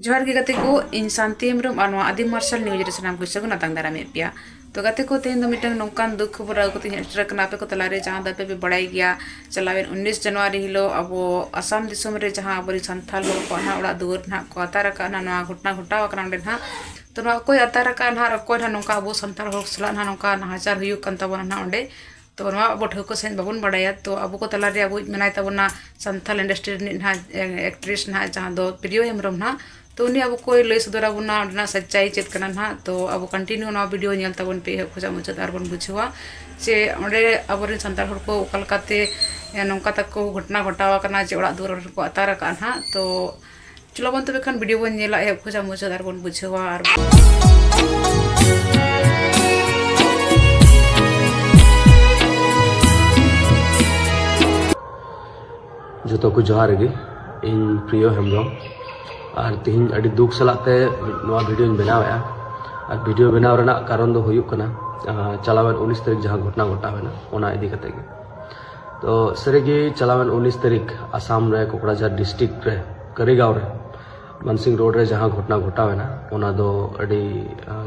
ᱡᱚᱦᱟᱨ ᱜᱮ ᱜᱟᱛᱮ ᱠᱚ ᱤᱧ ᱥᱟᱱᱛᱤ ᱦᱮᱢᱵᱨᱚᱢ ᱟᱨ ᱱᱚᱣᱟ ᱟᱫᱤ ᱢᱟᱨᱥᱟᱞ ᱱᱤᱭᱩᱡᱽ ᱨᱮ ᱥᱟᱱᱟᱢ ᱠᱚ ᱥᱟᱹᱜᱩᱱ ᱟᱛᱟᱝ ᱫᱟᱨᱟᱢᱮᱫ ᱯᱮᱭᱟ ᱛᱚ ᱜᱟᱛᱮ ᱠᱚ ᱛᱮᱦᱮᱧ ᱫᱚ ᱢᱤᱫᱴᱟᱝ ᱱᱚᱝᱠᱟᱱ ᱫᱩᱠ ᱠᱷᱚᱵᱚᱨ ᱟᱹᱜᱩ ᱠᱟᱛᱮ ᱤᱧ ᱥᱮᱴᱮᱨ ᱟᱠᱟᱱᱟ ᱟᱯᱮ ᱠᱚ ᱛᱟᱞᱟᱨᱮ ᱡᱟᱦᱟᱸ ᱫᱚ ᱟᱯᱮ ᱯᱮ ᱵᱟᱲᱟᱭ ᱜᱮᱭᱟ ᱪᱟᱞᱟᱣᱮᱱ ᱩᱱᱤᱥ ᱡᱟᱱᱩᱣᱟᱨᱤ ᱦᱤᱞᱳᱜ ᱟᱵᱚ ᱟᱥᱟᱢ ᱫᱤᱥᱚᱢ ᱨᱮ ᱡᱟᱦᱟᱸ ᱟᱵᱚᱨᱮᱱ ᱥᱟᱱᱛᱟᱲ ᱦᱚᱲ ᱠᱚᱣᱟᱜ ᱱᱟᱦᱟᱜ ᱚᱲᱟᱜ ᱫᱩᱣᱟᱹᱨ ᱱᱟᱦᱟᱜ ᱠᱚ ᱟᱛᱟᱨ ᱟᱠᱟᱫᱼᱟ ᱱᱟᱦᱟᱜ ᱱᱚᱣᱟ ᱜᱷᱚᱴᱚᱱᱟ ᱜᱷᱚᱴᱟᱣ ᱟᱠᱟᱱᱟ ᱚᱸᱰᱮ ᱱᱟᱦᱟᱜ ᱛᱚ ᱱᱚᱣᱟ ᱚᱠᱚᱭ ᱟᱛᱟᱨ ᱟᱠᱟᱫᱼᱟ ᱱᱟᱦᱟᱜ ᱚᱠᱚᱭ ᱱᱟᱦᱟᱜ ᱱᱚᱝᱠᱟ ᱟᱵᱚ ᱥᱟᱱᱛᱟᱲ ᱦᱚᱲ ᱥᱟᱞᱟᱜ ᱱᱟᱦᱟᱜ ᱱᱚᱝᱠᱟ ᱱᱟᱦᱟᱪᱟᱨ ᱦᱩᱭᱩᱜ ᱠᱟᱱ ᱛᱟᱵᱚᱱᱟ ᱱᱟᱦᱟᱜ ᱚᱸᱰᱮ ᱛᱚ ᱱᱚᱣᱟ ᱟᱵᱚ ᱴᱷᱟᱹᱣᱠᱟᱹ ᱥᱟᱺᱦᱤᱡ ᱵᱟᱵᱚᱱ ᱵᱟᱲᱟᱭᱟ ᱛᱚ ᱟᱵᱚ ᱠᱚ ᱛᱟᱞᱟ ᱨᱮ ᱟᱵᱚᱭᱤᱡ ᱢᱮᱱᱟᱭ ᱛᱟᱵᱚᱱᱟ ᱥᱟᱱᱛᱟᱲ ᱤᱱᱰᱟᱥᱴᱨᱤ ᱨᱤᱱᱤᱡ ᱦᱟᱸᱜ ᱮᱠᱴᱨᱮᱥ ᱦᱟᱸᱜ ᱡᱟᱦᱟᱸ ᱫᱚ ᱯᱨᱤᱭᱚ ᱦᱮᱢᱵᱨᱚᱢ ᱦᱟᱸᱜ ᱛᱚ ᱩᱱᱤ ᱟᱵᱚ ᱠᱚᱭ ᱞᱟᱹᱭ ᱥᱚᱫᱚᱨ ᱟᱵᱚᱱᱟ ᱚᱸᱰᱮᱱᱟᱜ ᱥᱟᱪᱪᱟᱭ ᱪᱮᱫ ᱠᱟᱱᱟ ᱦᱟᱸᱜ ᱛᱚ ᱟᱵᱚ ᱠᱚᱱᱴᱤᱱᱤᱭᱩ ᱱᱚᱣᱟ ᱵᱷᱤᱰᱭᱳ ᱧᱮᱞ ᱛᱟᱵᱚᱱ ᱯᱮ ᱮᱦᱚᱵ ᱠᱷᱚᱱᱟᱜ ᱢᱩᱪᱟᱹᱫ ᱟᱨ ᱵᱚᱱ ᱵᱩᱡᱷᱟᱹᱣᱟ ᱡᱮ ᱚᱸᱰᱮ ᱟᱵᱚ ᱨᱮᱱ ᱥᱟᱱᱛᱟᱲ ᱦᱚᱲ ᱠᱚ ᱚᱠᱟ ᱞᱮᱠᱟᱛᱮ ᱱᱚᱝᱠᱟ ᱛᱟᱠᱚ ᱜᱷᱚᱴᱚᱱᱟ ᱜᱷᱚᱴᱟᱣ ᱠᱟᱱᱟ ᱡᱮ ᱚᱲᱟᱜ ᱫᱩᱣᱟᱹᱨ ᱠᱚ ᱟᱛᱟᱨ ᱠᱟᱜᱼᱟ ᱦᱟᱸᱜ ᱛᱚ ᱪᱚᱞᱚ ᱵᱚᱱ ᱛᱚᱵᱮ ᱠᱷᱟᱱ ᱵᱷᱤᱰᱤᱭᱳ ᱵᱚᱱ ᱧᱮᱞᱟ ᱮᱦᱚᱵ ᱠᱷᱚᱡᱟᱜ ᱢᱩᱪᱟᱹᱫ ᱟᱨ ᱵᱚᱱ ᱵᱩᱡᱷᱟᱹᱣᱟ ᱟᱨ ᱡᱚᱛᱚ ᱠᱚ ᱡᱚᱦᱟᱨ ᱜᱮ ᱤᱧ ᱯᱨᱤᱭᱚ ᱦᱮᱢᱵᱨᱚᱢ ᱟᱨ ᱛᱮᱦᱮᱧ ᱟᱹᱰᱤ ᱫᱩᱠ ᱥᱟᱞᱟᱜ ᱛᱮ ᱱᱚᱣᱟ ᱵᱷᱤᱰᱤᱭᱳᱧ ᱵᱮᱱᱟᱣᱮᱫᱼᱟ ᱟᱨ ᱵᱷᱤᱰᱤᱭᱳ ᱵᱮᱱᱟᱣ ᱨᱮᱱᱟᱜ ᱠᱟᱨᱚᱱ ᱫᱚ ᱦᱩᱭᱩᱜ ᱠᱟᱱᱟ ᱪᱟᱞᱟᱣᱮᱱ ᱩᱱᱤᱥ ᱛᱟᱹᱨᱤᱠᱷ ᱡᱟᱦᱟᱸ ᱜᱷᱚᱴᱚᱱᱟ ᱜᱷᱚᱴᱟᱣᱮᱱᱟ ᱚᱱᱟ ᱤᱫᱤ ᱠᱟᱛᱮ ᱜᱮ ᱛᱚ ᱥᱟᱹᱨᱤᱜᱮ ᱪᱟᱞᱟᱣᱮᱱ ᱩᱱᱤᱥ ᱛᱟᱹᱨᱤᱠᱷ ᱟᱥᱟᱢ ᱨᱮ ᱠᱚᱠᱲᱟᱡᱷᱟᱨ ᱰᱤᱥᱴᱨᱤᱠᱴ ᱨᱮ ᱠᱟᱹᱨᱤᱜᱟᱸᱣ ᱨᱮ ᱢᱟᱱᱥᱤᱝ ᱨᱳᱰ ᱨᱮ ᱡᱟᱦᱟᱸ ᱜᱷᱚᱴᱱᱟ ᱜᱷᱚᱴᱟᱣᱮᱱᱟ ᱚᱱᱟ ᱫᱚ ᱟᱹᱰᱤ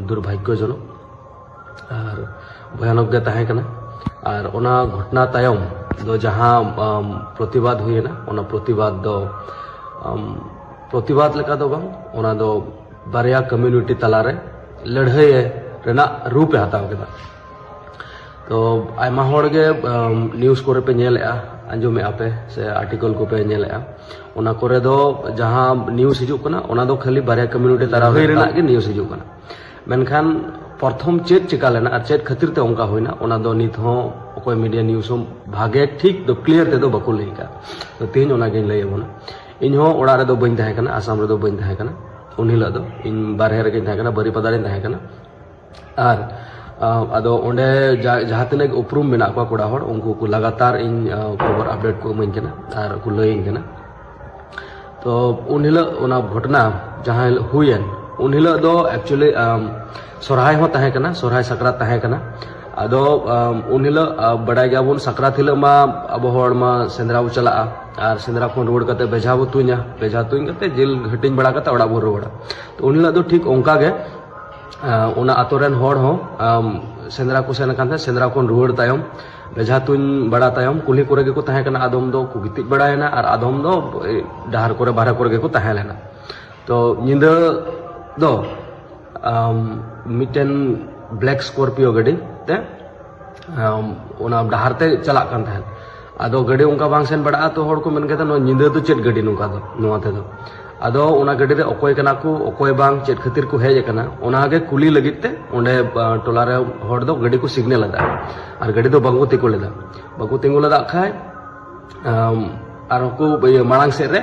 ᱫᱩᱨᱵᱷᱟᱜᱽᱭᱚᱡᱚᱱᱚᱠ ᱟᱨ ᱵᱷᱚᱭᱟᱱᱚᱠ ᱜᱮ ᱛᱟᱦᱮᱸ ᱠᱟᱱᱟ ᱟᱨ ᱚᱱᱟ ᱜᱷᱚᱴᱱᱟ ᱛᱟᱭᱚᱢ ᱫᱚ ᱡᱟᱦᱟᱸ ᱯᱨᱚᱛᱤᱵᱟᱫ ᱦᱩᱭᱮᱱᱟ ᱚᱱᱟ ᱯᱨᱚᱛᱤᱵᱟᱫ ᱫᱚ ᱯᱨᱚᱛᱤᱵᱟᱫ ᱞᱮᱠᱟ ᱫᱚ ᱵᱟᱝ ᱚᱱᱟ ᱫᱚ ᱵᱟᱨᱭᱟ ᱠᱚᱢᱤᱭᱩᱱᱤᱴᱤ ᱛᱟᱞᱟᱨᱮ ᱞᱟᱹᱲᱦᱟᱹᱭ ᱨᱮᱱᱟᱜ ᱨᱩᱯ ᱮ ᱦᱟᱛᱟᱣ ᱠᱮᱫᱟ ᱛᱚ ᱟᱭᱢᱟ ᱦᱚᱲ ᱜᱮ ᱱᱤᱭᱩᱡ ᱠᱚᱨᱮ ᱯᱮ ᱧᱮᱞᱮᱜᱼᱟ ᱟᱸᱡᱚᱢᱮᱜᱼᱟ ᱯᱮ ᱥᱮ ᱟᱨᱴᱤᱠᱚᱞ ᱠᱚᱯᱮ ᱧᱮᱞᱮᱜᱼᱟ ᱚᱱᱟ ᱠᱚᱨᱮ ᱫᱚ ᱡᱟᱦᱟᱸ ᱱᱤᱭᱩᱡ ᱦᱤᱡᱩᱜ ᱠᱟᱱᱟ ᱚᱱᱟ ᱫᱚ ᱠᱷᱟᱹᱞᱤ ᱵᱟᱨᱭᱟ ᱠᱚᱢᱤᱭᱩᱱᱤᱴᱤ ᱛᱟᱨᱟ ᱦᱩᱭ ᱨᱮᱱᱟᱜ ᱜᱮ ᱱᱤᱭᱩᱡ ᱦᱤᱡᱩᱜ ᱠᱟᱱᱟ ᱢᱮᱱᱠᱷᱟᱱ ᱯᱨᱚᱛᱷᱚᱢ ᱪᱮᱫ ᱪᱮᱠᱟ ᱞᱮᱱᱟ ᱟᱨ ᱪᱮᱫ ᱠᱷᱟᱹᱛᱤᱨ ᱛᱮ ᱚᱱᱠᱟ ᱦᱩᱭᱱᱟ ᱚᱱᱟ ᱫᱚ ᱱᱤᱛ ᱦᱚᱸ ᱚᱠᱚᱭ ᱢᱤᱰᱤᱭᱟ ᱱᱤᱭᱩᱡ ᱦᱚᱸ ᱵᱷᱟᱜᱮ ᱴᱷᱤᱠ ᱫᱚ ᱠᱞᱤᱭᱟᱨ ᱛᱮᱫᱚ ᱵᱟᱠᱚ ᱞᱟᱹᱭ ᱠᱟᱜ ᱛᱚ ᱛᱮᱦᱮᱧ ᱚᱱᱟᱜᱤᱧ ᱞᱟᱹᱭ ᱟᱵᱚᱱᱟ ᱤᱧ ᱦᱚᱸ ᱚᱲᱟᱜ ᱨᱮᱫᱚ ᱵᱟᱹᱧ ᱛᱟᱦᱮᱸ ᱠᱟᱱᱟ ᱟᱥᱟᱢ ᱨᱮᱫᱚ ᱵᱟᱹᱧ ᱛᱟᱦᱮᱸ ᱠᱟᱱᱟ ᱩᱱ ᱦᱤᱞᱳᱜ ᱫᱚ ᱤᱧ ᱵᱟᱨᱦᱮ ᱨᱮᱜᱮᱧ ᱛᱟᱦᱮᱸ ᱠᱟᱱᱟ ᱵᱟᱹᱨᱤᱯᱟᱫᱟ ᱨᱮᱧ ᱛᱟᱦᱮᱸ ᱠᱟᱱᱟ ᱟᱨ ᱟᱫᱚ ᱚᱸᱰᱮ ᱡᱟᱦᱟᱸ ᱛᱤᱱᱟᱹᱜ ᱜᱮ ᱩᱯᱨᱩᱢ ᱢᱮᱱᱟᱜ ᱠᱚᱣᱟ ᱠᱚᱲᱟ ᱦᱚᱲ ᱩᱱᱠᱩ ᱠᱚ ᱞᱟᱜᱟᱛᱟᱨ ᱤᱧ ᱠᱷᱚᱵᱚᱨ ᱟᱯᱰᱮᱴ ᱠᱚ ᱤᱢᱟᱹᱧ ᱠᱟᱱᱟ ᱟᱨ ᱠᱚ ᱞᱟᱹᱭᱟᱹᱧ ᱠᱟᱱᱟ ᱛᱚ ᱩᱱ ᱦᱤᱞᱳᱜ ᱚᱱᱟ ᱜᱷᱚᱴᱚᱱᱟ ᱡᱟᱦᱟᱸ ᱦᱤᱞᱳᱜ ᱦᱩᱭᱮᱱ ᱩᱱ ᱦᱤᱞᱳᱜ ᱫᱚ ᱮᱠᱪᱩᱭᱮᱞᱤ ᱥᱚᱨᱦᱟᱭ ᱦᱚᱸ ᱛᱟᱦᱮᱸ ᱠᱟᱱᱟ ᱥᱚᱨᱦᱟᱭ ᱥᱟᱠᱨᱟᱛ ᱛᱟᱦᱮᱸ ᱠᱟᱱᱟ ᱟᱫᱚ ᱩᱱ ᱦᱤᱞᱳᱜ ᱵᱟᱰᱟᱭ ᱜᱮᱭᱟᱵᱚᱱ ᱥᱟᱠᱨᱟᱛ ᱦᱤᱞᱳᱜ ᱢᱟ ᱟᱵᱚ ᱦᱚᱲ ᱢᱟ ᱥᱮᱸᱫᱽᱨᱟ ᱵᱚ ᱪᱟᱞᱟᱜᱼᱟ ᱟᱨ ᱥᱮᱸᱫᱽᱨᱟ ᱠᱷᱚᱱ ᱨᱩᱣᱟᱹᱲ ᱠᱟᱛᱮ ᱵᱮᱡᱷᱟ ᱵᱚ ᱛᱩᱧᱟ ᱵᱮᱡᱷᱟ ᱛᱩᱧ ᱠᱟᱛᱮ ᱡᱤᱞ ᱦᱟᱹᱴᱤᱧ ᱵᱟᱲᱟ ᱠᱟᱛᱮ ᱚᱲᱟᱜ ᱵᱚ ᱨᱩᱣᱟᱹᱲᱟ ᱩᱱ ᱦᱤᱞᱳᱜ ᱫᱚ ᱴᱷᱤᱠ ᱚᱱᱠᱟ ᱜᱮ ᱚᱱᱟ ᱟᱛᱳ ᱨᱮᱱ ᱦᱚᱲ ᱦᱚᱸ ᱥᱮᱸᱫᱽᱨᱟ ᱠᱚ ᱥᱮᱱ ᱟᱠᱟᱱ ᱛᱟᱦᱮᱸᱫ ᱥᱮᱸᱫᱽᱨᱟ ᱠᱷᱚᱱ ᱨᱩᱣᱟᱹᱲ ᱛᱟᱭᱚᱢ ᱵᱮᱡᱷᱟ ᱛᱩᱧ ᱵᱟᱲᱟ ᱛᱟᱭᱚᱢ ᱠᱩᱞᱦᱤ ᱠᱚᱨᱮ ᱜᱮᱠᱚ ᱛᱟᱦᱮᱸ ᱠᱟᱱᱟ ᱟᱫᱚᱢ ᱫᱚ ᱠᱚ ᱜᱤᱛᱤᱡ ᱵᱟᱲᱟᱭᱮᱱᱟ ᱟᱨ ᱟᱫᱚᱢ ᱫᱚ ᱰᱟᱦᱟᱨ ᱠᱚᱨᱮ ᱵᱟᱨᱦᱮ ᱠᱚᱨᱮ ᱜᱮᱠᱚ ᱛᱟᱦᱮᱸ ᱞᱮᱱᱟ ᱛᱚ ᱧᱤᱫᱟᱹ ᱫᱚ ᱢᱤᱫᱴᱮᱱ ᱵᱞᱮᱠ ᱥᱠᱚᱨᱯᱤᱭᱳ ᱜᱟᱹᱰᱤ ᱛᱮ ᱚᱱᱟ ᱰᱟᱦᱟᱨ ᱛᱮ ᱪᱟᱞᱟᱜ ᱠᱟᱱ ᱛᱟᱦᱮᱸᱫ ᱟᱫᱚ ᱜᱟᱹᱰᱤ ᱚᱱᱠᱟ ᱵᱟᱝ ᱥᱮᱱ ᱵᱟᱲᱟᱜᱼᱟ ᱛᱚ ᱦᱚᱲ ᱠᱚ ᱢᱮᱱ ᱠᱮᱫᱟ ᱱᱚᱣᱟ ᱧᱤᱫᱟᱹ ᱫᱚ ᱪᱮᱫ ᱜᱟᱹᱰᱤ ᱱᱚᱝᱠᱟ ᱫᱚ ᱱᱚᱣᱟ ᱛᱮᱫᱚ ᱟᱫᱚ ᱚᱱᱟ ᱜᱟᱹᱰᱤ ᱨᱮ ᱚᱠᱚᱭ ᱠᱟᱱᱟ ᱠᱚ ᱚᱠᱚᱭ ᱵᱟᱝ ᱪᱮᱫ ᱠᱷᱟᱹᱛᱤᱨ ᱠᱚ ᱦᱮᱡ ᱟᱠᱟᱱᱟ ᱚᱱᱟ ᱜᱮ ᱠᱩᱞᱤ ᱞᱟᱹᱜᱤᱫ ᱛᱮ ᱚᱸᱰᱮ ᱴᱚᱞᱟ ᱨᱮ ᱦᱚᱲ ᱫᱚ ᱜᱟᱹᱰᱤ ᱠᱚ ᱥᱤᱜᱽᱱᱮᱞ ᱟᱫᱟ ᱟᱨ ᱜᱟᱹᱰᱤ ᱫᱚ ᱵᱟᱝᱠᱚ ᱛᱤᱸᱜᱩ ᱞᱮᱫᱟ ᱵᱟᱠᱚ ᱛᱤᱸᱜᱩ ᱞᱮᱫᱟ ᱠᱷᱟᱡ ᱟᱨ ᱠᱚ ᱢᱟᱲᱟᱝ ᱥᱮᱫ ᱨᱮ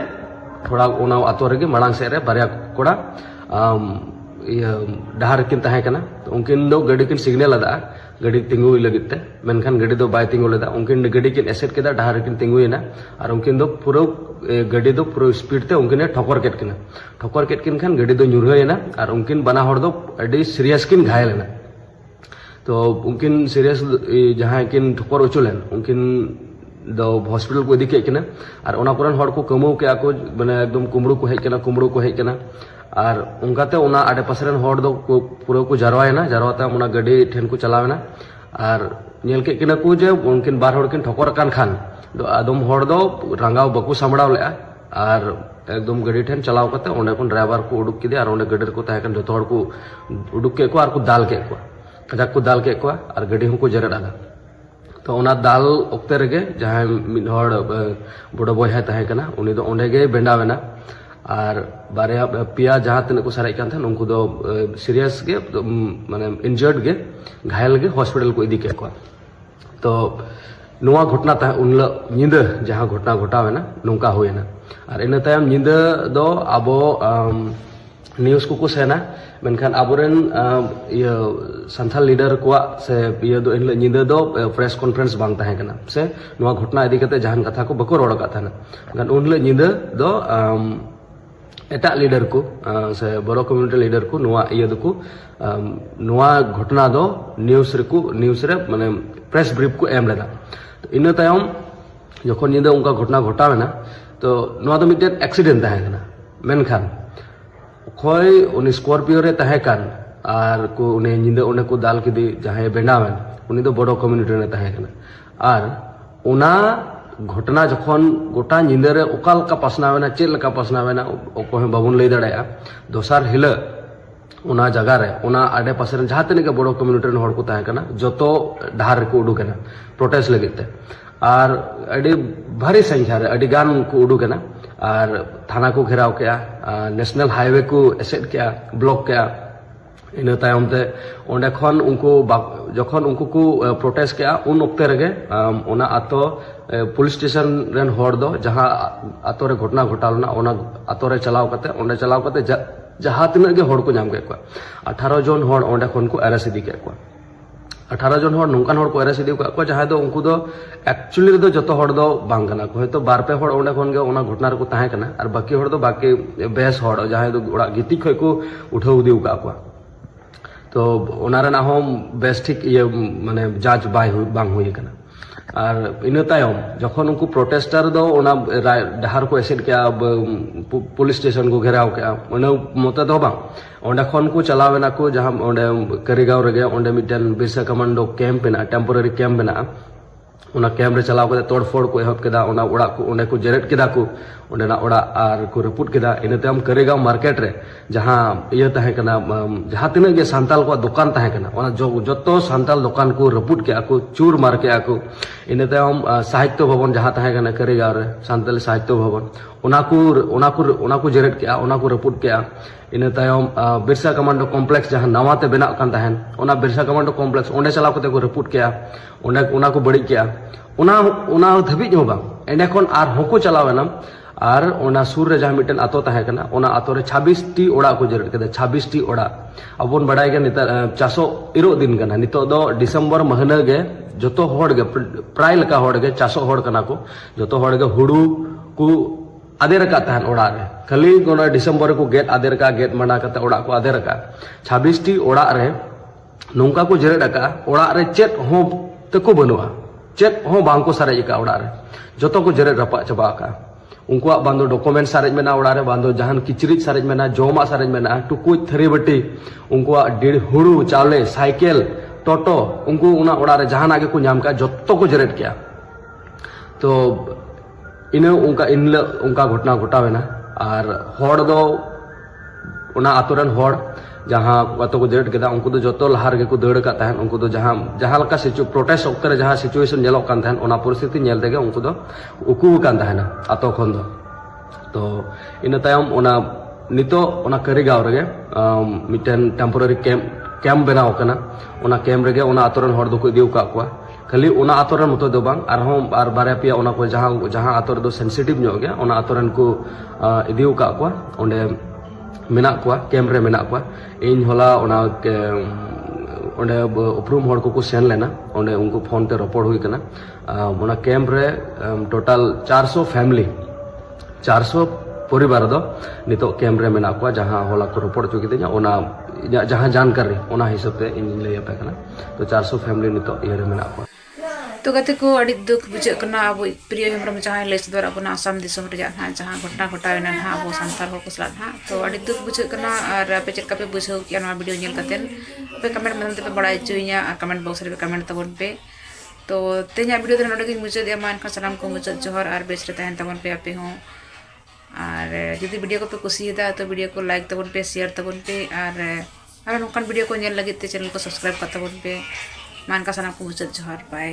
ᱛᱷᱚᱲᱟ ᱚᱱᱟ ᱟᱛᱳ ᱨᱮᱜᱮ ᱢᱟᱲᱟᱝ ᱥᱮᱫ ᱨᱮ ᱵᱟᱨᱭᱟ ᱠᱚᱲᱟ ᱤᱭᱟᱹ ᱰᱟᱦᱟᱨ ᱨᱮᱠᱤᱱ ᱛᱟᱦᱮᱸ ᱠᱟᱱᱟ ᱩᱱᱠᱤᱱ ᱫᱚ ᱜᱟᱹᱰᱤ ᱠᱤᱱ ᱥᱤᱜᱽᱱᱮᱞ ᱟᱫᱟ ᱜᱟᱹᱰᱤ ᱛᱤᱸᱜᱩ ᱞᱟᱹᱜᱤᱫ ᱛᱮ ᱢᱮᱱᱠᱷᱟᱱ ᱜᱟᱹᱰᱤ ᱫᱚ ᱵᱟᱭ ᱛᱤᱸᱜᱩ ᱞᱮᱫᱟ ᱩᱱᱠᱤᱱ ᱜᱟᱹᱰᱤ ᱠᱤᱱ ᱮᱥᱮᱫ ᱠᱮᱫᱟ ᱰᱟᱦᱟᱨ ᱨᱮᱠᱤᱱ ᱛᱤᱸᱜᱩᱭᱮᱱᱟ ᱟᱨ ᱩᱱᱠᱤᱱ ᱫᱚ ᱯᱩᱨᱟᱹ ᱜᱟᱹᱰᱤ ᱫᱚ ᱯᱩᱨᱟᱹ ᱥᱯᱤᱰ ᱛᱮ ᱩᱱᱠᱤᱱᱮ ᱴᱷᱚᱠᱚᱨ ᱠᱮᱫ ᱠᱤᱱᱟ ᱴᱷᱚᱠᱚᱨ ᱠᱮᱫ ᱠᱤᱱ ᱠᱷᱟᱱ ᱜᱟᱹᱰᱤ ᱫᱚ ᱧᱩᱨᱦᱟᱹᱭᱮᱱᱟ ᱟᱨ ᱩᱱᱠᱤᱱ ᱵᱟᱱᱟ ᱦᱚᱲ ᱫᱚ ᱟᱹᱰᱤ ᱥᱤᱨᱤᱭᱟᱥ ᱠᱤᱱ ᱜᱷᱟᱭᱮᱞᱮᱱᱟ ᱛᱚ ᱩᱱᱠᱤᱱ ᱥᱤᱨᱤᱭᱟᱥ ᱡᱟᱦᱟᱸᱭ ᱠᱤᱱ ᱴᱷᱚᱠᱚᱨ ᱦᱚᱪᱚ ᱞᱮᱱ ᱩᱱᱠᱤᱱ ᱫᱚ ᱦᱚᱥᱯᱤᱴᱟᱞ ᱠᱚ ᱤᱫᱤ ᱠᱮᱫ ᱠᱤᱱᱟ ᱟᱨ ᱚᱱᱟ ᱠᱚᱨᱮᱱ ᱦᱚᱲ ᱠᱚ ᱠᱟᱹᱢᱟᱹᱣ ᱠᱮᱫᱟ ᱠᱚ ᱢᱟᱱᱮ ᱮᱠᱫᱚᱢ ᱠᱩᱢᱵᱽᱲᱩ ᱠᱚ ᱦᱮᱡ ᱠᱟᱱᱟ ᱠᱩᱢᱵᱽᱲᱩ ᱠᱚ ᱦᱮᱡ ᱠᱟᱱᱟ ᱟᱨ ᱚᱱᱠᱟᱛᱮ ᱚᱱᱟ ᱟᱰᱮᱯᱟᱥᱮ ᱨᱮᱱ ᱦᱚᱲ ᱫᱚ ᱯᱩᱨᱟᱹ ᱠᱚ ᱡᱟᱨᱣᱟᱭᱮᱱᱟ ᱡᱟᱨᱣᱟ ᱛᱟᱭᱚᱢ ᱚᱱᱟ ᱜᱟᱹᱰᱤ ᱴᱷᱮᱱ ᱠᱚ ᱪᱟᱞᱟᱣᱮᱱᱟ ᱟᱨ ᱧᱮᱞ ᱠᱮᱫ ᱠᱤᱱᱟ ᱠᱚ ᱡᱮ ᱩᱱᱠᱤᱱ ᱵᱟᱨ ᱦᱚᱲ ᱠᱤᱱ ᱴᱷᱚᱠᱚᱨ ᱟᱠᱟᱱ ᱠᱷᱟᱱ ᱫᱚ ᱟᱫᱚᱢ ᱦᱚᱲ ᱫᱚ ᱨᱟᱸᱜᱟᱣ ᱵᱟᱠᱚ ᱥᱟᱢᱵᱲᱟᱣ ᱞᱮᱫᱼᱟ ᱟᱨ ᱮᱠᱫᱚᱢ ᱜᱟᱹᱰᱤ ᱴᱷᱮᱱ ᱪᱟᱞᱟᱣ ᱠᱟᱛᱮ ᱚᱸᱰᱮ ᱠᱷᱚᱱ ᱰᱨᱟᱭᱵᱷᱟᱨ ᱠᱚ ᱩᱰᱩᱠ ᱠᱮᱫᱮᱭᱟ ᱟᱨ ᱚᱸᱰᱮ ᱜᱟᱹᱰᱤ ᱨᱮᱠᱚ ᱛᱟᱦᱮᱸ ᱠᱟᱱ ᱡᱚᱛᱚ ᱦᱚᱲ ᱠᱚ ᱩᱰᱩᱠ ᱠᱮᱫ ᱠᱚᱣᱟ ᱟᱨ ᱠᱚ ᱫᱟᱞ ᱠᱮᱫ ᱠᱚᱣᱟ ᱠᱟᱡᱟᱠ ᱠᱚ ᱫᱟᱞ ᱠᱮᱫ ᱠᱚᱣᱟ ᱟᱨ ᱜᱟᱹᱰᱤ ᱦᱚᱸᱠᱚ ᱡᱮᱨᱮᱫ ᱟᱫᱟ ᱛᱚ ᱚᱱᱟ ᱫᱟᱞ ᱚᱠᱛᱮ ᱨᱮᱜᱮ ᱡᱟᱦᱟᱸᱭ ᱢᱤᱫ ᱦᱚᱲ ᱵᱚᱰᱚ ᱵᱚᱭᱦᱟᱭ ᱛᱟᱦᱮᱸ ᱠᱟᱱᱟ ᱩᱱᱤ ᱫᱚ ᱚᱸᱰᱮ ᱜᱮ ᱵᱮᱸᱰᱟᱣ ᱮᱱᱟ ᱟᱨ ᱵᱟᱨᱭᱟ ᱯᱮᱭᱟ ᱡᱟᱦᱟᱸ ᱛᱤᱱᱟᱹᱜ ᱠᱚ ᱥᱟᱨᱮᱡ ᱠᱟᱱ ᱛᱟᱦᱮᱸᱱ ᱩᱱᱠᱩ ᱫᱚ ᱥᱤᱨᱤᱭᱟᱥ ᱜᱮ ᱢᱟᱱᱮ ᱤᱱᱡᱟᱨᱰ ᱜᱮ ᱜᱷᱟᱭᱮᱞ ᱜᱮ ᱦᱚᱥᱯᱤᱴᱟᱞ ᱠᱚ ᱤᱫᱤ ᱠᱮᱫ ᱠᱚᱣᱟ ᱛᱚ ᱱᱚᱣᱟ ᱜᱷᱚᱴᱱᱟ ᱛᱟᱦᱮᱸ ᱩᱱ ᱦᱤᱞᱳᱜ ᱧᱤᱫᱟᱹ ᱡᱟᱦᱟᱸ ᱜᱷᱚᱴᱱᱟ ᱜᱷᱚᱴᱟᱣ ᱮᱱᱟ ᱱᱚᱝᱠᱟ ᱦᱩᱭᱮᱱᱟ ᱟᱨ ᱤᱱᱟᱹ ᱛᱟᱭᱚᱢ ᱧᱤᱫᱟᱹ ᱫᱚ ᱟᱵᱚ ᱱᱤᱭᱩᱡᱽ ᱠᱚᱠᱚ ᱥᱮᱱᱟ ᱢᱮᱱᱠᱷᱟᱱ ᱟᱵᱚᱨᱮᱱ ᱤᱭᱟᱹ ᱥᱟᱱᱛᱷᱟᱞ ᱞᱤᱰᱟᱨ ᱠᱚᱣᱟᱜ ᱥᱮ ᱤᱭᱟᱹ ᱫᱚ ᱮᱱᱦᱤᱞᱳᱜ ᱧᱤᱫᱟᱹ ᱫᱚ ᱯᱨᱮᱥ ᱠᱚᱱᱯᱷᱟᱨᱮᱱᱥ ᱵᱟᱝ ᱛᱟᱦᱮᱸ ᱠᱟᱱᱟ ᱥᱮ ᱱᱚᱣᱟ ᱜᱷᱚᱴᱚᱱᱟ ᱤᱫᱤ ᱠᱟᱛᱮ ᱡᱟᱦᱟᱱ ᱠᱟᱛᱷᱟ ᱠᱚ ᱵᱟᱠᱚ ᱨᱚᱲ ᱟᱠᱟᱫ ᱛᱟᱦᱮᱱᱟ ᱢᱮᱱᱠᱷᱟᱱ ᱩᱱ ᱦᱤᱞᱳᱜ ᱧᱤᱫᱟᱹ ᱫᱚ ᱮᱴᱟᱜ ᱞᱤᱰᱟᱨ ᱠᱚ ᱥᱮ ᱵᱚᱨᱚ ᱠᱚᱢᱤউᱱᱤᱴᱤ ᱞᱤᱰᱟᱨ ᱠᱚ ᱱᱚᱣᱟ ᱤᱭᱟᱹ ᱫᱚᱠᱚ ᱱᱚᱣᱟ ᱜᱷᱚᱴᱚᱱᱟ ᱫᱚ ᱱᱤᱭᱩᱡᱽ ᱨᱮᱠᱚ ᱱᱤᱭᱩᱡᱽ ᱨᱮ ᱢᱟᱱᱮ ᱯᱨᱮᱥ ᱵᱨᱤᱯ ᱠᱚ ᱮᱢ ᱞᱮᱫᱟ ᱤᱱᱟᱹ ᱛᱟᱭᱚᱢ ᱡᱚᱠᱷᱚᱱ ᱧᱤᱫᱟᱹ ᱚᱱᱠᱟ ᱜᱷᱚᱴᱚᱱᱟ ᱜᱷᱚᱴᱟᱣᱮᱱᱟ ᱛᱚ ᱱᱚᱣᱟ ᱫᱚ ᱢᱤᱫᱴᱮᱱ ᱮᱠᱥᱤᱰᱮᱱᱴ ᱛᱟᱦᱮᱸ ᱠᱟᱱᱟ ᱢᱮᱱᱠᱷᱟᱱ ᱚᱠᱚᱭ ᱩᱱᱤ ᱥᱠᱚᱨᱯᱤᱭᱳ ᱨᱮ ᱛᱟᱦᱮᱸ ᱠᱟᱱ ᱟᱨ ᱠᱚ ᱩᱱᱤ ᱧᱤᱫᱟᱹ ᱚᱸᱰᱮ ᱠᱚ ᱫᱟᱞ ᱠᱮᱫᱮ ᱡᱟᱦᱟᱸᱭ ᱵᱮᱱᱟᱣᱮᱱ ᱩᱱᱤ ᱫᱚ ᱵᱚᱰᱚ ᱠᱚᱢᱤউᱱᱤᱴᱤ ᱨᱮ ᱛᱟᱦᱮᱸ ᱠᱟᱱᱟ ᱟᱨ ᱚᱱᱟ ᱜᱷᱚᱴᱚᱱᱟ ᱡᱚᱠᱷᱚᱱ ᱜᱚᱴᱟ ᱧᱤᱫᱟᱹ ᱨᱮ ᱚᱠᱟ ᱞᱮᱠᱟ ᱯᱟᱥᱱᱟᱣᱮᱱᱟ ᱪᱮᱫ ᱞᱮᱠᱟ ᱯᱟᱥᱱᱟᱣᱮᱱᱟ ᱚᱠᱚᱭ ᱦᱚᱸ ᱵᱟᱵᱚᱱ ᱞᱟᱹᱭ ᱫᱟᱲᱮᱭᱟᱜᱼᱟ ᱫᱚᱥᱟᱨ ᱦᱤᱞᱟᱹᱜ ᱚᱱᱟ ᱡᱟᱭᱜᱟ ᱨᱮ ᱚᱱᱟ ᱟᱰᱮ ᱯᱟᱥᱮ ᱨᱮᱱ ᱡᱟᱦᱟᱸ ᱛᱤᱱᱟᱹᱜ ᱜᱮ ᱵᱚᱲᱚ ᱠᱚᱢᱤᱭᱩᱱᱤᱴᱤ ᱨᱮᱱ ᱦᱚᱲ ᱠᱚ ᱛᱟᱦᱮᱸ ᱠᱟᱱᱟ ᱡᱚᱛᱚ ᱰᱟᱦᱟᱨ ᱨᱮᱠᱚ ᱩᱰᱩᱠ ᱮᱱᱟ ᱯᱨᱚᱴᱮᱥᱴ ᱞᱟᱹᱜᱤᱫ ᱛᱮ ᱟᱨ ᱟᱹᱰᱤ ᱵᱷᱟᱨᱤ ᱥᱚᱝᱠᱷᱟ ᱨᱮ ᱟᱹᱰᱤ ᱜᱟᱱ ᱠᱚ ᱩᱰᱩᱠ ᱮᱱᱟ ᱟᱨ ᱛᱷᱟᱱᱟ ᱠᱚ ᱜᱷᱮᱨᱟᱣ ᱠᱮᱜᱼᱟ ᱱᱮᱥᱱᱟᱞ ᱦᱟᱭᱣᱮ ᱠᱚ ᱮᱥᱮᱫ ᱠᱮᱜᱼᱟ ᱵᱞᱚᱠ ᱠᱮᱜᱼᱟ ᱤᱱᱟᱹ ᱛᱟᱭᱚᱢ ᱛᱮ ᱚᱸᱰᱮ ᱠᱷᱚᱱ ᱩᱱᱠᱩ ᱡᱚᱠᱷᱚᱱ ᱩᱱᱠᱩ ᱠᱚ ᱯᱨᱚᱴᱮᱥᱴ ᱠᱮᱜᱼᱟ ᱩᱱ ᱚᱠᱛᱮ ᱨᱮᱜᱮ ᱚᱱᱟ ᱟᱛᱳ ᱯᱩᱞᱤᱥ ᱥᱴᱮᱥᱚᱱ ᱨᱮᱱ ᱦᱚᱲ ᱫᱚ ᱡᱟᱦᱟᱸ ᱟᱛᱳ ᱨᱮ ᱜᱷᱚᱴᱚᱱᱟ ᱜᱷᱚᱴᱟᱣ ᱞᱮᱱᱟ ᱚᱱᱟ ᱟᱛᱳ ᱨᱮ ᱪᱟᱞᱟᱣ ᱠᱟᱛᱮ ᱚᱸᱰᱮ ᱪᱟᱞᱟᱣ ᱠᱟᱛᱮ ᱡᱟᱦᱟᱸ ᱛᱤᱱᱟᱹᱜ ᱜᱮ ᱦᱚᱲ ᱠᱚ ᱧᱟᱢ ᱠᱮᱫ ᱠᱚᱣᱟ ᱟᱴᱷᱟᱨᱚ ᱡᱚᱱ ᱦᱚᱲ ᱚᱸᱰᱮ ᱠᱷᱚᱱ ᱠᱚ ᱮᱨᱮᱥ ᱤᱫᱤ ᱠᱮᱫ ᱠᱚᱣᱟ ᱟᱴᱷᱟᱨᱚ ᱡᱚᱱ ᱦᱚᱲ ᱱᱚᱝᱠᱟᱱ ᱦᱚᱲ ᱠᱚ ᱮᱨᱮᱥ ᱤᱫᱤ ᱠᱟᱜ ᱠᱚᱣᱟ ᱡᱟᱦᱟᱸᱭ ᱫᱚ ᱩᱱᱠᱩ ᱫᱚ ᱮᱠᱪᱩᱭᱮᱞᱤ ᱨᱮᱫᱚ ᱡᱚᱛᱚ ᱦᱚᱲ ᱫᱚ ᱵᱟᱝ ᱠᱟᱱᱟ ᱠᱚ ᱦᱚᱭᱛᱚ ᱵᱟᱨ ᱯᱮ ᱦᱚᱲ ᱚᱸᱰᱮ ᱠᱷᱚᱱ ᱜᱮ ᱚᱱᱟ ᱜᱷᱚᱴᱱᱟ ᱨᱮᱠᱚ ᱛᱟᱦᱮᱸ ᱠᱟᱱᱟ ᱟᱨ ᱵᱟᱹᱠᱤ ᱦᱚᱲ ᱫᱚ ᱵᱟᱹᱠᱤ ᱵᱮᱥ ᱦᱚᱲ ᱡᱟᱦᱟᱸᱭ ᱫᱚ ᱚᱲᱟᱜ ᱜᱤᱛᱤᱡ ᱠᱷᱚᱱ ᱠᱚ ᱩᱴᱷᱟᱹᱣ ᱤᱫᱤ ᱠᱟᱜ ᱠᱚᱣᱟ ᱛᱚ ᱚᱱᱟ ᱨᱮᱱᱟᱜ ᱦᱚᱸ ᱵᱮᱥ ᱴᱷᱤᱠ ᱤᱭᱟᱹ ᱢᱟᱱᱮ ᱡᱟᱡᱽ ᱵᱟᱭ ᱵᱟᱝ ᱦᱩᱭ ᱟᱠᱟᱱᱟ ᱟᱨ ᱤᱱᱟᱹ ᱛᱟᱭᱚᱢ ᱡᱚᱠᱷᱚᱱ ᱩᱱᱠᱩ ᱯᱨᱚᱴᱮᱥᱴᱟᱨ ᱫᱚ ᱚᱱᱟ ᱰᱟᱦᱟᱨ ᱠᱚ ᱮᱥᱮᱫ ᱠᱮᱜᱼᱟ ᱯᱩᱞᱤᱥ ᱥᱴᱮᱥᱚᱱ ᱠᱚ ᱜᱷᱮᱨᱟᱣ ᱠᱮᱜᱼᱟ ᱚᱱᱟ ᱢᱚᱛᱮ ᱫᱚ ᱵᱟᱝ ᱚᱸᱰᱮ ᱠᱷᱚᱱ ᱠᱚ ᱪᱟᱞᱟᱣ ᱮᱱᱟ ᱠᱚ ᱡᱟᱦᱟᱸ ᱚᱸᱰᱮ ᱠᱟᱹᱨᱤᱜᱟᱸᱣ ᱨᱮᱜᱮ ᱚᱸᱰᱮ ᱢᱤᱫᱴᱮᱱ ᱵᱤᱨᱥᱟ ᱠᱟᱢᱟᱱᱰᱳ ᱠᱮᱢᱯ ᱢᱮᱱᱟᱜᱼᱟ ᱴᱮᱢᱯᱳᱨᱟᱨᱤ ᱠᱮᱢᱯ ᱢᱮᱱᱟᱜᱼᱟ ᱚᱱᱟ ᱠᱮᱢᱯ ᱨᱮ ᱪᱟᱞᱟᱣ ᱠᱟᱛᱮ ᱛᱚᱲᱯᱷᱚᱲ ᱠᱚ ᱮᱦᱚᱵ ᱠᱮᱫᱟ ᱚᱱᱟ ᱚᱲᱟᱜ ᱠᱚ ᱚᱸᱰᱮ ᱠᱚ ᱡᱮᱨᱮᱫ ᱠᱮᱫᱟ ᱠᱚ ᱚᱸᱰᱮᱱᱟᱜ ᱚᱲᱟᱜ ᱟᱨ ᱠᱚ ᱨᱟᱹᱯᱩᱫ ᱠᱮᱫᱟ ᱤᱱᱟᱹ ᱛᱟᱭᱚᱢ ᱠᱟᱹᱨᱤᱜᱟᱸᱣ ᱢᱟᱨᱠᱮᱴ ᱨᱮ ᱡᱟᱦᱟᱸ ᱤᱭᱟᱹ ᱛᱟᱦᱮᱸ ᱠᱟᱱᱟ ᱡᱟᱦᱟᱸ ᱛᱤᱱᱟᱹᱜ ᱜᱮ ᱥᱟᱱᱛᱟᱞ ᱠᱚᱣᱟᱜ ᱫᱚᱠᱟᱱ ᱛᱟᱦᱮᱸ ᱠᱟᱱᱟ ᱚᱱᱟ ᱡᱚᱛᱚ ᱥᱟᱱᱛᱟᱞ ᱫᱚᱠᱟᱱ ᱠᱚ ᱨᱟᱹᱯᱩᱫ ᱠᱮᱫᱟ ᱠᱚ ᱪᱩᱨ ᱢᱟᱨ ᱠᱮᱫᱟ ᱠᱚ ᱤᱱᱟᱹ ᱛᱟᱭᱚᱢ ᱥᱟᱦᱤᱛᱭᱚ ᱵᱷᱚᱵᱚᱱ ᱡᱟᱦᱟᱸ ᱛᱟᱦᱮᱸ ᱠᱟᱱᱟ ᱠᱟᱹᱨᱤᱜᱟᱸᱣ ᱨᱮ ᱥᱟᱱᱛᱟᱞᱤ ᱥᱟᱦᱤᱛᱭᱚ ᱵᱷᱚᱵᱚᱱ ᱚᱱᱟ ᱠᱚ ᱚᱱᱟ ᱠᱚ ᱚᱱᱟ ᱠᱚ ᱡᱮᱨᱮᱫ ᱠᱮᱫᱟ ᱚᱱᱟ ᱠᱚ ᱨᱟᱹᱯᱩᱫ ᱠᱮᱫᱟ ᱤᱱᱟᱹ ᱛᱟᱭᱚᱢ ᱵᱤᱨᱥᱟ ᱠᱟᱢᱟᱱᱰᱳ ᱠᱚᱢᱯᱞᱮᱠᱥ ᱡᱟᱦᱟᱸ ᱱᱟᱣᱟᱛᱮ ᱵᱮᱱᱟᱜ ᱠᱟᱱ ᱛᱟᱦᱮᱸᱱ ᱚᱱᱟ ᱵᱤᱨᱥᱟ ᱠᱟᱢᱟᱱᱰᱳ ᱠᱚᱢᱯᱞᱮᱠᱥ ᱚᱸᱰᱮ ᱪᱟᱞᱟᱣ ᱠᱟᱛᱮ ᱠᱚ ᱨᱟᱹᱯᱩᱫ ᱠᱮᱫᱟ ᱚᱸᱰᱮ ᱚᱱᱟ ᱠᱚ ᱵᱟᱹᱲᱤᱡ ᱠᱮᱜᱼᱟ ᱚᱱᱟ ᱚᱱᱟ ᱫᱷᱟᱹᱵᱤᱡ ᱦᱚᱸ ᱵᱟᱝ ᱮᱸᱰᱮ ᱠᱷᱚᱱ ᱟᱨ ᱦᱚᱸᱠᱚ ᱪᱟᱞᱟᱣ ᱮᱱᱟ ᱟᱨ ᱚᱱᱟ ᱥᱩᱨ ᱨᱮ ᱡᱟᱦᱟᱸ ᱢᱤᱫᱴᱮᱱ ᱟᱛᱳ ᱛᱟᱦᱮᱸ ᱠᱟᱱᱟ ᱚᱱᱟ ᱟᱛᱳ ᱨᱮ ᱪᱷᱟᱵᱤᱥ ᱴᱤ ᱚᱲᱟᱜ ᱠᱚ ᱡᱮᱨᱮᱫ ᱠᱮᱫᱟ ᱪᱷᱟᱵᱤᱥ ᱴᱤ ᱚᱲᱟᱜ ᱟᱵᱚ ᱵᱚᱱ ᱵᱟᱲᱟᱭ ᱜᱮᱭᱟ ᱱᱮᱛᱟᱨ ᱪᱟᱥᱚᱜ ᱤᱨᱚᱜ ᱫᱤᱱ ᱠᱟᱱᱟ ᱱᱤᱛᱚᱜ ᱫᱚ ᱰᱤᱥᱮᱢᱵᱚᱨ ᱢᱟᱹᱦᱱᱟᱹ ᱜᱮ ᱡᱚᱛᱚ ᱦᱚᱲ ᱜᱮ ᱯᱨᱟᱭ ᱞᱮᱠᱟ ᱦᱚᱲ ᱜᱮ ᱪᱟᱥᱚᱜ ᱦᱚᱲ ᱠᱟᱱᱟ ᱠᱚ ᱡᱚᱛᱚ ᱦᱚᱲ ᱜᱮ ᱦᱩᱲᱩ ᱠᱚ ᱟᱫᱮᱨ ᱟᱠᱟᱫ ᱛᱟᱦᱮᱱ ᱚᱲᱟᱜ ᱨᱮ ᱠᱷᱟᱹᱞᱤ ᱚᱱᱟ ᱰᱤᱥᱮᱢᱵᱚᱨ ᱨᱮᱠᱚ ᱜᱮᱫ ᱟᱫᱮᱨ ᱠᱟᱜᱼᱟ ᱜᱮᱫ ᱢᱟᱸᱰᱟ ᱠᱟᱛᱮ ᱚᱲᱟᱜ ᱠᱚ ᱟᱫᱮᱨ ᱟᱠᱟᱫᱼᱟ ᱪᱷᱟᱵᱤᱥ ᱴᱤ ᱚᱲᱟᱜ ᱨᱮ ᱱᱚᱝᱠᱟ ᱠᱚ ᱡᱮᱨᱮᱫ ᱟᱠᱟᱫᱼᱟ ᱚᱲᱟᱜ ᱨᱮ ᱪᱮᱫ ᱦᱚᱸ ᱛᱟᱠᱚ ᱵᱟᱹᱱᱩᱜᱼᱟ ᱪᱮᱫ ᱦᱚᱸ ᱵᱟᱝ ᱠᱚ ᱥᱟᱨᱮᱡ ᱟᱠᱟᱫᱼᱟ ᱚᱲᱟᱜ ᱨᱮ ᱡᱚᱛᱚ ᱠᱚ ᱡᱮᱨᱮᱫ ᱨᱟᱯᱟᱜ ᱪᱟᱵᱟ ᱟᱠᱟᱫᱼᱟ ᱩᱱᱠᱩᱣᱟᱜ ᱵᱟᱝ ᱫᱚ ᱰᱚᱠᱩᱢᱮᱱᱴ ᱥᱟᱨᱮᱡ ᱢᱮᱱᱟᱜᱼᱟ ᱚᱲᱟᱜ ᱨᱮ ᱵᱟᱝ ᱫᱚ ᱡᱟᱦᱟᱱ ᱠᱤᱪᱨᱤᱡ ᱥᱟᱨᱮᱡ ᱢᱮᱱᱟᱜᱼᱟ ᱡᱚᱢᱟᱜ ᱥᱟᱨᱮᱡ ᱢᱮᱱᱟᱜᱼᱟ ᱴᱩᱠᱩᱡ ᱛᱷᱟᱹᱨᱤ ᱵᱟᱹᱴᱤ ᱩᱱᱠᱩᱣᱟᱜ ᱰᱤᱲ ᱦᱩᱲᱩ ᱪᱟᱣᱞᱮ ᱥᱟᱭᱠᱮᱞ ᱴᱚᱴᱚ ᱩᱱᱠᱩ ᱚᱱᱟ ᱚᱲᱟᱜ ᱨᱮ ᱡᱟᱦᱟᱱᱟᱜ ᱜᱮᱠᱚ ᱧᱟᱢ ᱠᱟᱜᱼᱟ ᱡᱚᱛᱚ ᱠᱚ ᱡᱮᱨᱮᱫ ᱠᱮᱫᱼᱟ ᱛᱚ ᱤᱱᱟᱹ ᱚᱱᱠᱟ ᱤᱱ ᱦᱤᱞᱳᱜ ᱚᱱᱠᱟ ᱜᱷᱚᱴᱚᱱᱟ ᱜᱷᱚᱴᱟᱣᱮᱱᱟ ᱟᱨ ᱦᱚᱲ ᱫᱚ ᱚᱱᱟ ᱟᱛᱳ ᱨᱮᱱ ᱦᱚᱲ ᱡᱟᱦᱟᱸ ᱟᱛᱳ ᱠᱚ ᱡᱮᱨᱮᱫ ᱠᱮᱫᱟ ᱩᱱᱠᱩ ᱫᱚ ᱡᱚᱛᱚ ᱞᱟᱦᱟ ᱨᱮᱜᱮ ᱠᱚ ᱫᱟᱹᱲ ᱟᱠᱟᱫ ᱛᱟᱦᱮᱸᱫ ᱩᱱᱠᱩ ᱫᱚ ᱡᱟᱦᱟᱸ ᱡᱟᱦᱟᱸ ᱞᱮᱠᱟ ᱥᱤᱪᱩ ᱯᱨᱚᱴᱮᱥᱴ ᱚᱠᱛᱮ ᱨᱮ ᱡᱟᱦᱟᱸ ᱥᱤᱪᱩᱭᱮᱥᱚᱱ ᱧᱮᱞᱚᱜ ᱠᱟᱱ ᱛᱟᱦᱮᱸᱫ ᱚᱱᱟ ᱯᱚᱨᱤᱥᱛᱷᱤᱛᱤ ᱧᱮᱞ ᱛᱮᱜᱮ ᱩᱱᱠᱩ ᱫᱚ ᱩᱠᱩ ᱟᱠᱟᱱ ᱛᱟᱦᱮᱱᱟ ᱟᱛᱳ ᱠᱷᱚᱱ ᱫᱚ ᱛᱚ ᱤᱱᱟᱹ ᱛᱟᱭᱚᱢ ᱚᱱᱟ ᱱᱤᱛᱚᱜ ᱚᱱᱟ ᱠᱟᱹᱨᱤᱜᱟᱶ ᱨᱮᱜᱮ ᱢᱤᱫᱴᱮᱱ ᱴᱮᱢᱯᱳᱨᱟᱨᱤ ᱠᱮᱢᱯ ᱠᱮᱢᱯ ᱵᱮᱱᱟᱣ ᱟᱠᱟᱱᱟ ᱚᱱᱟ ᱠᱮᱢᱯ ᱨᱮᱜᱮ ᱚᱱᱟ ᱟᱛᱳ ᱨᱮᱱ ᱦᱚᱲ ᱫᱚᱠᱚ ᱤᱫᱤ ᱟᱠᱟᱫ ᱠᱚᱣᱟ ᱠᱷᱟᱹᱞᱤ ᱚᱱᱟ ᱟᱛᱳ ᱨᱮᱱ ᱢᱚᱛᱚ ᱫᱚ ᱵᱟᱝ ᱟᱨᱦᱚᱸ ᱟᱨ ᱵᱟᱨᱭᱟ ᱯᱮᱭᱟ ᱚᱱᱟ ᱠᱚ ᱡᱟᱦᱟᱸ ᱡᱟᱦᱟᱸ ᱟᱛᱳ ᱨᱮᱫᱚ ᱥᱮᱱᱥᱤᱴᱤᱵᱷ ᱧᱚᱜ ᱜᱮᱭᱟ ᱚᱱᱟ ᱟᱛᱳ ᱨᱮᱱ ᱠᱚ ᱤᱫᱤ ᱟᱠᱟᱫ ᱠᱚᱣᱟ ᱚᱸᱰᱮ ᱢᱮᱱᱟᱜ ᱠᱚᱣᱟ ᱠᱮᱢᱯ ᱨᱮ ᱢᱮᱱᱟᱜ ᱠᱚᱣᱟ ᱤᱧ ᱦᱚᱞᱟ ᱚᱱᱟ ᱚᱸᱰᱮ ᱩᱯᱨᱩᱢ ᱦᱚᱲ ᱠᱚᱠᱚ ᱥᱮᱱ ᱞᱮᱱᱟ ᱚᱸᱰᱮ ᱩᱱᱠᱩ ᱯᱷᱳᱱ ᱛᱮ ᱨᱚᱯᱚᱲ ᱦᱩᱭ ᱠᱟᱱᱟ ᱚᱱᱟ ᱠᱮᱢᱯ ᱨᱮ ᱴᱳᱴᱟᱞ ᱪᱟᱨᱥᱚ ᱯᱷᱮᱢᱞᱤ ᱪᱟᱨᱥᱚ ᱯᱚᱨᱤᱵᱟᱨ ᱫᱚ ᱱᱤᱛᱚᱜ ᱠᱮᱢᱯ ᱨᱮ ᱢᱮᱱᱟᱜ ᱠᱚᱣᱟ ᱡᱟᱦᱟᱸ ᱦᱚᱞᱟ ᱠᱚ ᱨᱚᱯᱚᱲ ᱦᱚᱪᱚ ᱠᱤᱫᱤᱧᱟ ᱚᱱᱟ ᱤᱧᱟᱹᱜ ᱡᱟᱦᱟᱸ ᱡᱟᱱᱠᱟᱨᱤ ᱚᱱᱟ ᱦᱤᱥᱟᱹᱵ ᱛᱮ ᱤᱧ ᱞᱟᱹᱭ ᱟᱯᱮ ᱠᱟᱱᱟ ᱛᱚ ᱪᱟᱨᱥᱚ ᱯᱷᱮᱢᱞᱤ ᱱᱤᱛᱚᱜ ᱤᱭᱟᱹᱨᱮ ᱢᱮᱱᱟᱜ ᱠᱚᱣᱟ ᱛᱚ ᱜᱟᱛᱮ ᱠᱚ ᱟᱹᱰᱤ ᱫᱩᱠ ᱵᱩᱡᱷᱟᱹᱜ ᱠᱟᱱᱟ ᱟᱵᱚ ᱯᱨᱤᱭᱚ ᱦᱮᱢᱵᱨᱚᱢ ᱡᱟᱦᱟᱸᱭ ᱞᱟᱹᱭ ᱥᱚᱫᱚᱨ ᱟᱵᱚᱱᱟ ᱟᱥᱟᱢ ᱫᱤᱥᱚᱢ ᱨᱮᱭᱟᱜ ᱱᱟᱦᱟᱜ ᱡᱟᱦᱟᱸ ᱜᱷᱚᱴᱚᱱᱟ ᱜᱷᱚᱴᱟᱣᱮᱱᱟ ᱱᱟᱦᱟᱜ ᱟᱵᱚ ᱥᱟᱱᱛᱟᱲ ᱦᱚᱲ ᱠᱚ ᱥᱟᱞᱟᱜ ᱱᱟᱦᱟᱜ ᱛᱚ ᱟᱹᱰᱤ ᱫᱩᱠ ᱵᱩᱡᱷᱟᱹᱜ ᱠᱟᱱᱟ ᱟᱨ ᱟᱯᱮ ᱪᱮᱫ ᱞᱮᱠᱟ ᱯᱮ ᱵᱩᱡᱷᱟᱹᱣ ᱠᱮᱜᱼᱟ ᱱᱚᱣᱟ ᱵᱷᱤᱰᱤᱭᱳ ᱧᱮᱞ ᱠᱟᱛᱮᱫ ᱟᱯᱮ ᱠᱚᱢᱮᱱᱴ ᱢᱟᱫᱽᱫᱷᱚᱢ ᱛᱮᱯᱮ ᱵᱟᱲᱟᱭ ᱦᱚᱪᱚᱭᱤᱧᱟ ᱟᱨ ᱠᱚᱢᱮᱱᱴ ᱵᱚᱠᱥ ᱨᱮ ᱠᱚᱢᱮᱱᱴ ᱛᱟᱵᱚᱱ ᱯᱮ ᱛᱚ ᱛᱮᱦᱮᱧᱟᱜ ᱵᱷᱤᱰᱤᱭᱳ ᱫᱚ ᱱᱚᱰᱮ ᱜᱤᱧ ᱢᱩᱪᱟᱹᱫᱮᱜᱼᱟ ᱢᱟ ᱮᱱᱠᱷᱟᱱ ᱥᱟᱱᱟᱢ ᱠᱚ ᱢᱩᱪᱟᱹᱫ ᱡᱚᱦᱟᱨ ᱟᱨ ᱵᱮᱥ ᱨᱮ ᱛᱟᱦᱮᱱ ᱛᱟᱵᱚᱱ ᱯᱮ ᱟᱯᱮ ᱦᱚᱸ ᱟᱨ ᱡᱩᱫᱤ ᱵᱷᱤᱰᱤᱭᱳ ᱠᱚᱯᱮ ᱠᱩᱥᱤᱭᱟᱫᱟ ᱛᱚ ᱵᱷᱤᱰᱤᱭᱳ ᱠᱚ ᱞᱟᱭᱤᱠ ᱛᱟᱵᱚᱱ ᱯᱮ ᱥᱮᱭᱟᱨ ᱛᱟᱵᱚᱱ ᱯᱮ ᱟᱨ ᱟᱨᱚ ᱱᱚᱝᱠᱟᱱ ᱵᱷᱤᱰᱤᱭᱳ ᱠᱚ ᱧᱮᱞ ᱞᱟᱹᱜᱤᱫ ᱛᱮ ᱪᱮᱱᱮᱞ ᱠᱚ ᱥᱟᱵᱥᱠᱨᱟᱭᱤᱵᱽ ᱠᱟᱜ ᱛᱟᱵᱚᱱ ᱯᱮ ᱢᱟ ᱮᱱᱠᱷᱟᱱ ᱥᱟᱱᱟᱢ ᱠᱚ ᱢᱩᱪᱟᱹᱫ ᱡᱚᱦᱟᱨ ᱵᱟᱭ